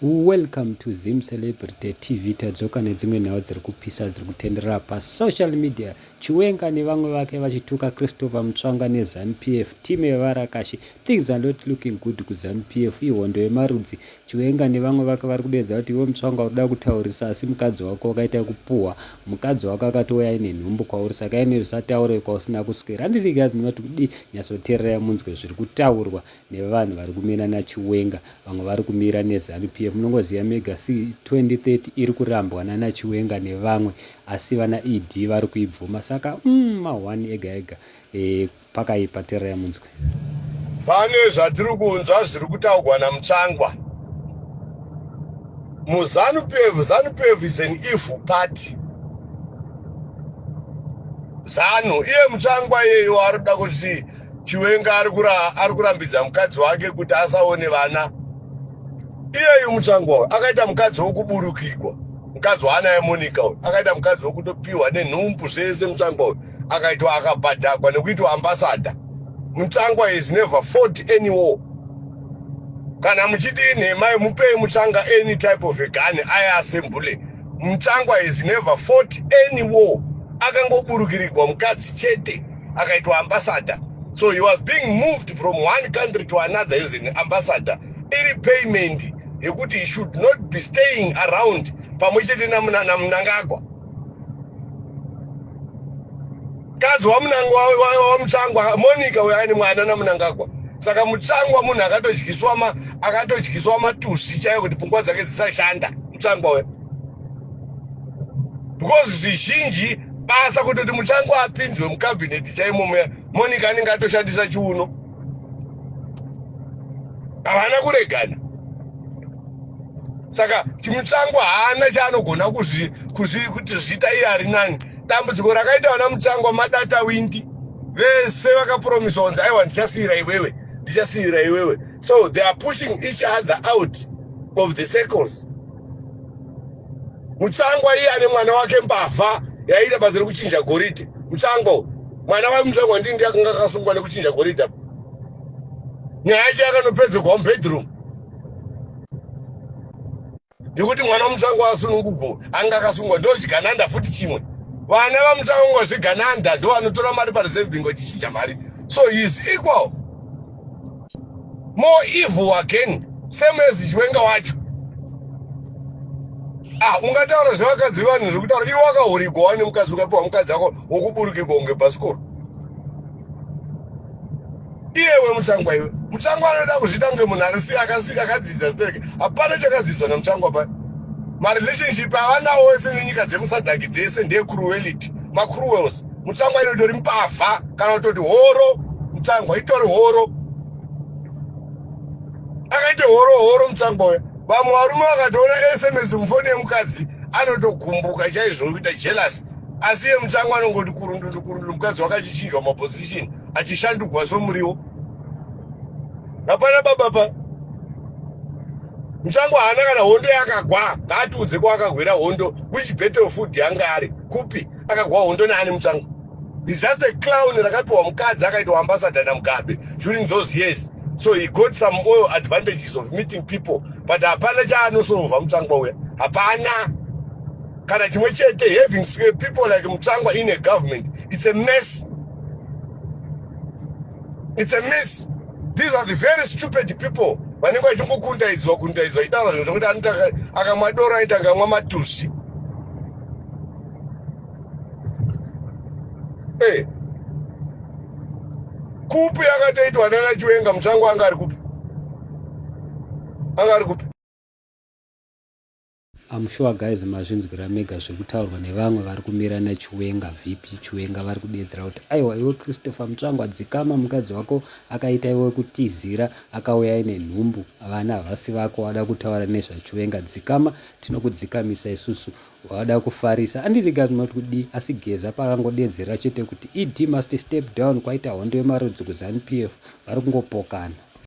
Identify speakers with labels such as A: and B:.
A: Welcome to Zim Celebrity TV tadzoka nedzimwe nhau dziri kupisa dziri kutenderera pasocial media Chiwenga nevamwe vake vachituka Christopher Mutsvanga neZanu PF team yevarakashi things are not looking good kuZanu PF ihondo yemarudzi Chiwenga nevamwe vake vari kudeedza kuti iwe Mutsvanga uri kuda kutaurisa asi mukadzi wako wakaita kupuhwa mukadzi wako akatouya ine nhumbu kwauri saka ine zvisataure kwausina kuswera handisi guys ndinoti kudii nyatsoteererai munzwe zviri kutaurwa nevanhu vari kumira nachiwenga vamwe vari kumira nezanu pf munongoziva mega asi 2030 iri kurambwa nanachiwenga nevamwe asi vana ed vari kuibvuma saka mm, mahwani ega ega e, pakaipa tererai munzwe pane
B: zvatiri kunzwa zviri kutaugwa namutsvangwa muzanu pf zanu pf is an evil party zanu iye mutsvangwa iyeyo ari kuda kuti chiwenga ari kurambidza mukadzi wake kuti asaone vana iyeyu mutsvangwa uyu akaita mukadzi wokuburukigwa mukadzi waana yemonika uyu akaita mukadzi wokutopiwa nenhumbu zvese mutsvangwa uyu akaitwa akabhadhakwa nekuitwa ambasada mutsvangwa is never fort any war kana muchiti inhemai mupei mutsvanga any type of a gani aye asembule mutsvangwa is never fort any war akangoburukirigwa mukadzi chete akaitwa ambassador so he was being moved from one country to another as an ambassador iri payment yekuti he should not be staying around pamwe chete namunangagwa kadzi wamunangwa wamutsangwa monica uyo aine mwana namunangagwa saka mutsangwa munhu akatodyiswa ma akatodyiswa matusi chaiyo kuti pfungwa dzake dzisashanda mutsangwa uyo because zvizhinji basa kutoti muchango apinzwe mukabhineti chaimo muya monica anenge atoshandisa chiuno havana kuregana saka chimuchango haana chaanogona kuti zviita iye ari nani dambudziko rakaita vana muchango madata windi vese vakapromiswa kunzi aiwa ndichasiyira iwewe ndichasiyira iwewe so they are pushing each other out of the circles mutsangwa iye ane mwana wake mbavha yaiita basa rekuchinja goridhe mutsangwa uyu mwana wake mutsangwa ndii ndi akanga akasungwa nekuchinja goridhe apo nyaya yacho yakanopedzerwa mubedroom nekuti mwana wamutsangwa asunungugo anga akasungwa ndochigananda futi chimwe vana vamutsangwa zvegananda ndovanotora mari pareserve bingo chichinja mari so he is equal more evil again same as chiwenga wacho ah ungataura zvevakadzi vanhu zviri kutaura iwe wakahurigwa wani mukadzi ukapiwa mukadzi wako wokuburukirwa kunge bhasikoro iyewe mutsangwa iwe mutsangwa anoda kuzvida kunge munhu arisi akadzidza stereke hapana chakadzidzwa namutsangwa pa marelationship avanawo wese nenyika dzemusadhaki dzese ndeyecruelity macruels mutsvangwa ino itori mbavha kana kutoti horo mutsvangwa itori horo akaite horo horo mutsvangwa uya vamwe varume vakatoona sms mufoni yemukadzi anotogumbuka chaizvo kuita jealous asi iye mutsvangwa anongoti kurundundu kurundundu mukadzi wakachichinjwa maposition achishandugwa somuriwo hapana baba pa musango haana kana hondo yakagwa ngaatiudze kwaakagwira hondo which battle food yanga ari kupi akagwa hondo naani mutsvanga is just a clown rakapiwa mukadzi akaitwa ambassador namugabe during those years so he got some oil advantages of meeting people but hapana chaanosova mutsvangwa uya hapana kana chimwe chete having people like mutsvangwa in a government it's a mess it's a mess these are the very stupid people vanenge vachingokundaidzwa kundaidzwa itaura zvinhu zvekuti anoita akamwa doro aita ngamwa matusi hey. Eh. kupi akatoitwa nana chiwenga mutsvango anga ari kupi anga ari kupi
A: I'm sure guys mazvinzwira mega zvekutaurwa nevamwe vari kumira nachiwenga vp chiwenga vari kudedzera kuti aiwa iwe christopher mutsvangwa dzikama mukadzi wako akaita iwe kutizira akauya ine nhumbu vana havasi vako wada kutaura nezvachiwenga dzikama tinokudzikamisa isusu wada kufarisa andiziga zvinoti kudii asi geza pakangodeedzera chete kuti ed must step down kwaita hondo yemarudzi kuzanu pf vari kungopokana